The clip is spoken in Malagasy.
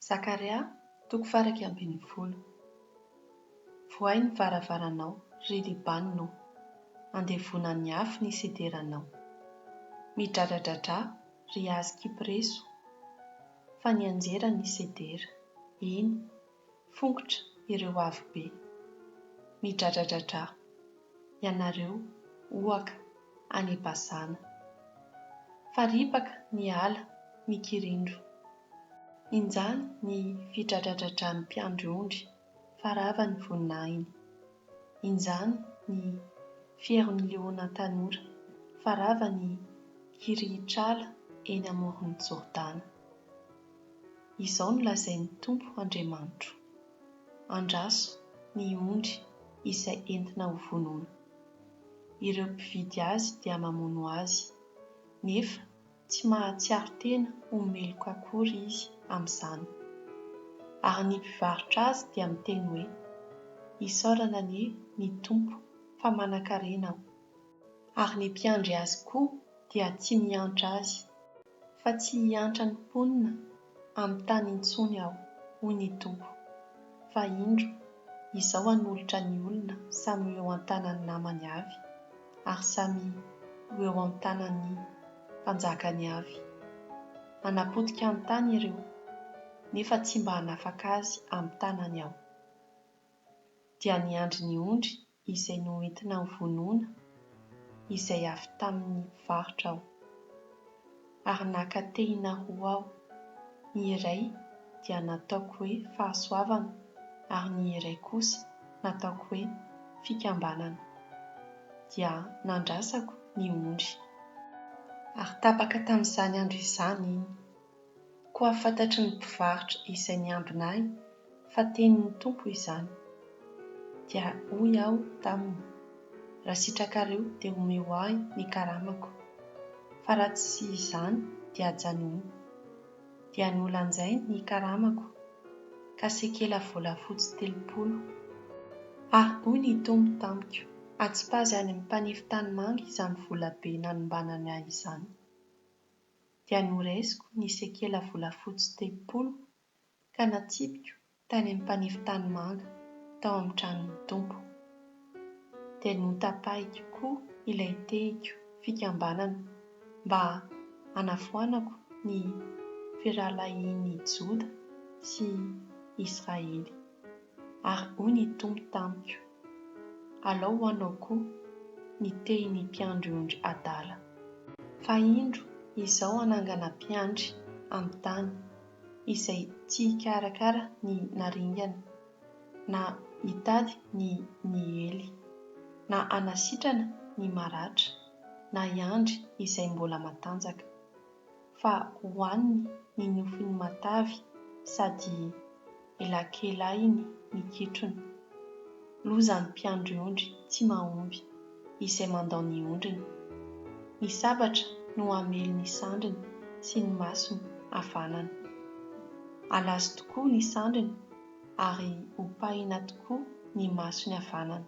Zakaria, toko faha iraika ambin'ny folo. Vohay ny varavaranao, ry Libanona ô, andevona ny afo ny sederanao. Midradradradrà, ry hazo kypreso, fa nianjera ny sedera, eny, Fongotra ireo avo be. Midradradradra, ianareo, ohaka, any Bazana. Fa ripaka ny ala mikirindro. Injany ny fidradradradran'ny mpiandry ondry fa rava ny voninahiny. Injany ny fieron'ny liona tanora fa rava ny kirihitr'ala eny amoron'i Jordana. Izao no lazain'ny Tompo Andriamanitro, Andraso ny ondry izay entina ho vonoina. Ireo mpividy azy dia mamono azy, nefa tsy mahatsiaro tena ho meloka akory izy amin'izany. Ary ny mpivarotra azy dia miteny hoe, Isaorana anie ny Tompo fa manankarena aho. Ary ny mpiandry azy koa dia tsy miantra azy. fa tsy hiantra ny mponina amin'ny tany intsony aho, hoy ny Tompo, fa indro, izao hanolotra ny olona samy ho eo an-tanan'ny namany avy, ary samy ho eo amin'ny tanan'ny mpanjakany avy. Hanapotika ny tany ireo, nefa tsy mba hanafaka azy amin'ny tanany aho. Dia niandry ny ondry izay noentina nivonona izay avy tamin' ny mpivarotra aho, ary naka tehina roa aho, ny iray dia nataoko hoe Fahasoavana ary ny iray kosa nataoko hoe Fikambanana, dia nandrasako ny ondry. Ary tapaka tamin' izany andro izany iny. Koa fantatry ny mpivarotra izay niambina ahy fa tenin'ny Tompo izany. Dia hoy aho taminy, Raha sitrakareo dia omeo ahy ny karamako, fa raha tsy izany dia ajanony. Dia nolanjainy ny karamako, ka sekela volafotsy telopolo. Ary hoy ny Tompo tamiko, Atsipazy any amin'ny mpanefy tanimanga izany volabe nanombanany ahy izany. dia noraisiko ny sekela volafotsy telopolo ka natsipiko tany amin'ny mpanefy tanimanga tao amin'ny tranon'ny Tompo. Dia notapahiko koa ilay tehiko fikambanana mba hanavoanako ny firahalahian'i Joda sy Israely. Ary hoy ny Tompo tamiko, Alao ho anao koa ny tehiny mpiandry ondry adala. Fa indro Izaho hanangana mpiandry amin'ny tany, izay tsy hikarakara ny naringana, na hitady ny niely, na hanasitrana ny maratra, na hiandry izay mbola matanjaka. fa hohaniny ny nofiny matavy sady elakelahiny ny kitrony. Lozan'ny mpiandry ondry tsy mahomby izay mandao ny ondriny. Ny sabatra no hamely ny sandriny sy ny masony havanana. Halazo tokoa ny sandriny ary hopahina tokoa ny masony havanana.